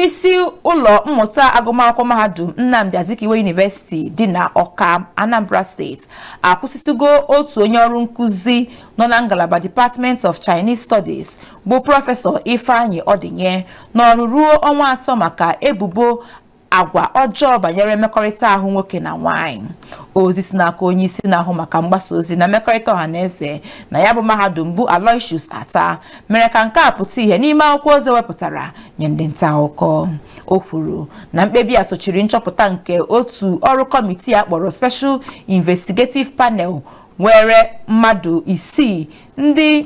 isi ụlọ mmụta agụmakwụkwọ mahadum Nnamdi Azikiwe University dị na Ọka, Anambra State akwụsịtụgo otu onye ọrụ nkụzi nọ na ngalaba Department of Chinese Studies bụ prọfesọ Ifeanyi Odinye n'ọrụ ruo ọnwa atọ maka ebubo agwa ọjọọ banyere mmekọrịta ahụ nwoke na nwaanyị ozi si n'aka onye isi na-ahụ maka mgbasa ozi na mmekọrịta ọha na eze na ya bụ mahadum bụ Aloysius Attah mere ka nke a pụta ihe n'ime akwụkwọ ozi e wepụtara nye ndị nta akụkọ o kwuru na mkpebi a sochiri nchọpụta nke otu ọrụ kọmitii a kpọrọ Special Investigative Panel nwere mmadụ isii ndị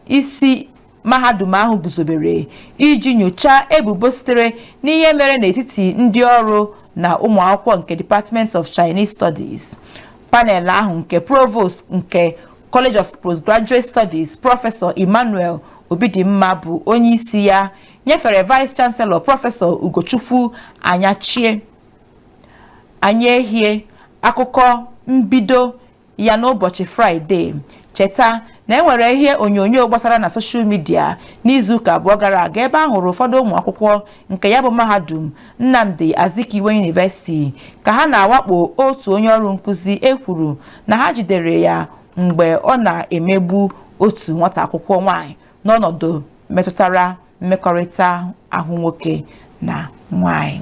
isi mahadum ahụ guzobere iji nyochaa ebubo sitere n'ihe mere n'etiti ndị ọrụ na ụmụ akwụkwọ nke Department of Chinese Studies panel ahụ nke provost nke College of Postgraduate Studies prọfesọ Emmanuel Obidimma bụ onye isi ya nyefere Vice Chancellor prọfesọ Ugochukwu Anyachie Anyaehie akụkọ mbido ya n'ụbọchị Fraịde cheta na e nwere ihe onyonyo gbasara na soshal midia n'izuụka abụọ gara aga ebe a hụrụ ụfọdụ ụmụ akwụkwọ nke ya bụ mahadum Nnamdi Azikiwe University ka ha na-awakpo otu onye ọrụ nkụzi e kwuru na ha jidere ya mgbe ọ na-emegbu otu nwata akwụkwọ nwaanyị n'ọnọdụ metụtara mmekọrịta ahụ nwoke na nwaanyị